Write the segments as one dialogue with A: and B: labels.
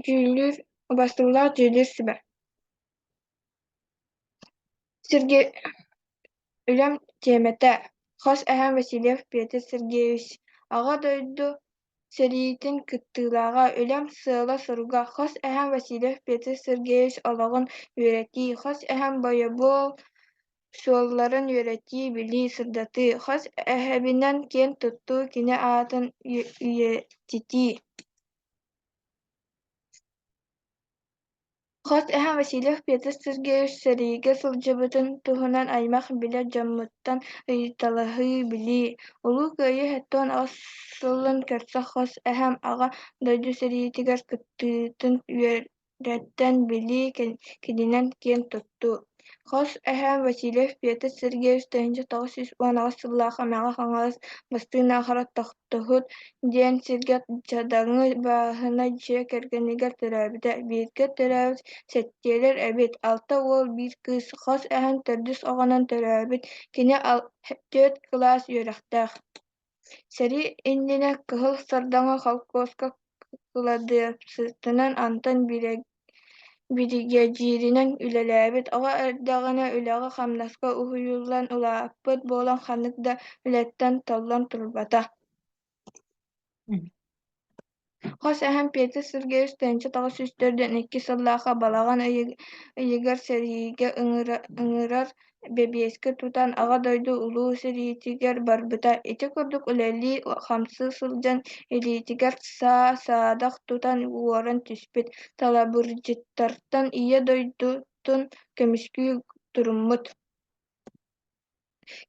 A: Дьүүллүүр, бастыҥалаах дьүүллүүр сибэ. Сергей Үлэм тиэмэтэ. Хос эһэм Васильев Петр Сергеевич Аҕа дойду сэриитин кыттыылааҕа Үлэм сыала-соруга Хос эһэм Васильев Петр Сергеевич олоҕун үөрэтии Хос эһэм бойобуол суолларын үөрэтии, билии, сырдатыы, хос эһэбинэн киэн туттуу, кини аатын үйэтитии. Хос эһэм Васильев Петр Сергеевич сэриигэ сылдьыбытын туһунан аймах билэр дьоммуттан ыйыталаһыы, билии. Улуу Кыайыы сэттэ аҕыс сылын көрсө хос эһэм Аҕа дойду сэриитигэр кыттыытын үөр Дьэттэн билии кининэн киэн туттуу. Хос эһээм Васильев Петр Сергеевич тыһыынча тоҕус сүүс уон аҕыс сыллаах Эмэҕэ-Хаҥалас бастыҥ аахара тохтоһут диэн сиргэ Чадаҥы бааһына дьиэ кэргэнигэр төрөөбүтэ. Бииргэ төрөөбүт сэттиэлэр эбит. Алта уол, биир кыыс. Хос эһэм төрдүс оҕонон төрөөбүт. Кини төрүт кылаас үөрэхтээх. Сэрии иннинэ Кыһыл Сардаҥа холкуоска кыладыассытынан Антон биригэдьииринэн үлэлээбит, оҕо эрдэҕинэ үлэҕэ-хамнаска уһуйуллан улааппыт буолан ханнык да үлэттэн толлон турбата Хос эһэм Петя Сергеевич тэнчэ таҕыс үстэр диэн икки сыллаахха балаҕан ыйы, ыйыгар сэриигэ ыҥыра, ыҥырар бэбиэскэ тутан Аҕа дойду Улуу сэриитигэр барбыта. Ити курдук үлэлии хамсыы сылдьан илиитигэр саа саадах тутан уоран түспүт. Талабырдьыттартан Ийэ дойдутун көмүскүү туруммут.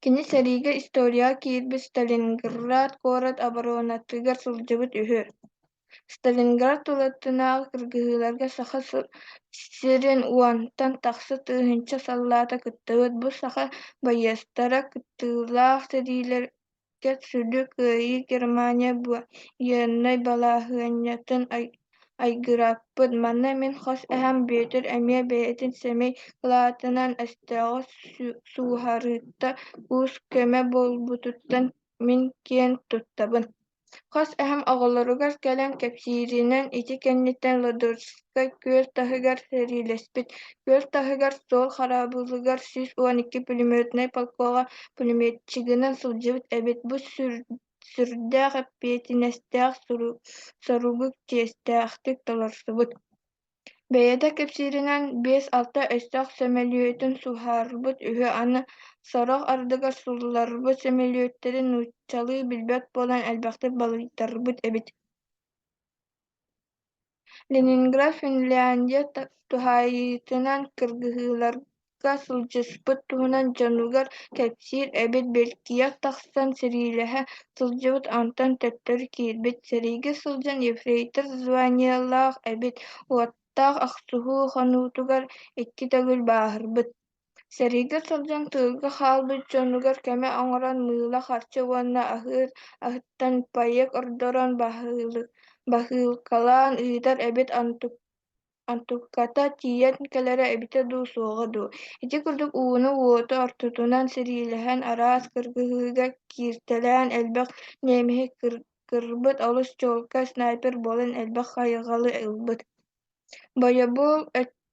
A: Кини сэриигэ историяҕа киирбит Сталинград куорат оборонатыгар сылдьыбыт үһү. Сталинград тулатынааҕы кыргыһыыларга Саха сирин уонтан тахса тыһыынча саллаата кыттыбыт. Бу саха байыастара кыттыылаах сэриилэр Сүдү Кыайыы Германия байыаннай балаһыанньатын айгырааппыт. Манна мин хос эһэм Бүөтүр эмиэ бэйэтин сэмэй кылаатынан өстөөҕү сууһарыыта уус-көмө буолбутуттан мин киэн туттабын. Хос эһэм оҕолоругар кэлэн кэпсииринэн ити кэнниттэн Лодорф күөл таһыгар сэриилэспит. Күөл таһыгар суол хараабылыгар сүүс уон икки пулеметнай полкоҕа пулеметчигынан сылдьыбыт эбит. Бу сүрдээх эппиэтинэстээх соругу чиэстээхтик толорсубут. Бэйэтэ кэпсииринэн, биэс-алта өстөөх сөмөлүөтүн суһаарбыт үһү. Аны сорох ардыгар сулларбыт сөмөлүөттэрин нууччалыы билбэт буолан элбэхтик балыйтарбыт эбит Ленинград Финляндия туһаайыытынан кыргыһыыларга сылдьыспыт туһунан дьонугар кэпсиир эбит Бэлкиэх тахсан сэриилэһэ сылдьыбыт онтон төттөрү киирбит сэриигэ сылдьан ефрейтор званиелаах эбит уоттаах охсуһуу хонуутугар икки төгүл бааһырбыт Сэрийгэ сылдьан тыылга хаалбыт дьонугар көмө оҥорон мыыла харчы уонна аһыыр аһыттан паек ордорон баһыылы- баһыылкалаан ыытар эбит онтук онтукката тиийэн кэлэрэ эбитэ дуу суоҕа дуу ити курдук ууну-уоту ортотунан сириилэһэн араас кыргыһыыга кииртэлээн элбэх ньиэмэһи кыр- кырбыт олус чуолкай снайпер буолан элбэх хайҕалы ылбыт бойобуол өт-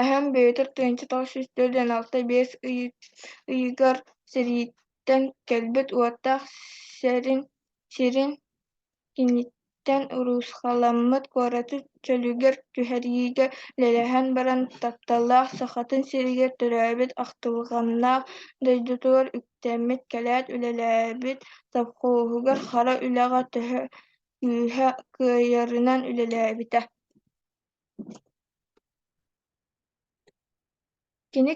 A: Эһэм бэйэтэ тыһыынча тоҕус сүүс төрт уон алта биэс ый ыйыгар сэрииттэн кэлбит уоттаах сэрин сирин киниттэн уруусхаламмыт куораты чөлүгэр түһэриигэ үлэлэһэн баран тапталлаах Сахатын сиригэр төрөөбүт ахтылҕаннаах дойдутугар үктэммит кэлээт үлэлээбит совхоһугар хара үлэҕэ төһө күүһэ кыайарынан үлэлээбитэ Кини,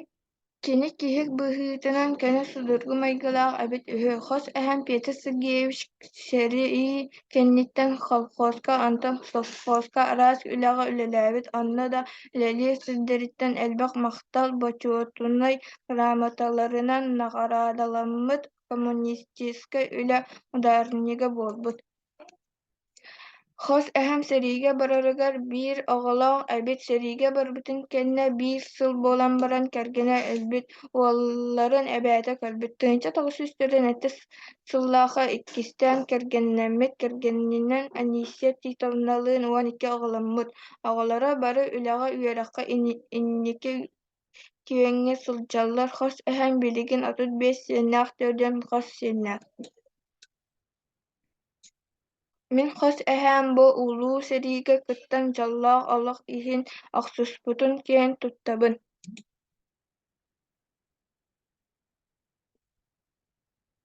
A: кини киһи быһыытынан көнө судургу майгылаах эбит үһү. Хос эһэм Петр Сергеевич сэрии кэнниттэн колхозка, онтон совхозка араас үлэҕэ үлэлээбит, онно да үлэлиир сирдэриттэн элбэх махтал бочуотунай грамоталарынан наҕараадаламмыт коммунистическай үлэ ударнига буолбут. Хос эһэм сэриигэ барарыгар биир оҕолоох эбит сэриигэ барбытын кэннэ биир сыл буолан баран кэргэнэ өлбүт уолларын эбээтэ көрбүт тыһыынча тоҕус сүүс төрүөн алтыс сыллаахха иккистээн кэргэннэммит кэргэнинэн Анисия Титовналыын уон икки оҕоломмут оҕолоро бары үлэҕэ үөрэххэ инники киэҥҥэ сылдьаллар хос эһэм билигин отут биэс сиэннээх төрдүөн хос сиэннээх Мин хос эһээм бу Улуу сэриигэ кыттан дьоллоох олох иһин охсуспутун киэҥ туттабын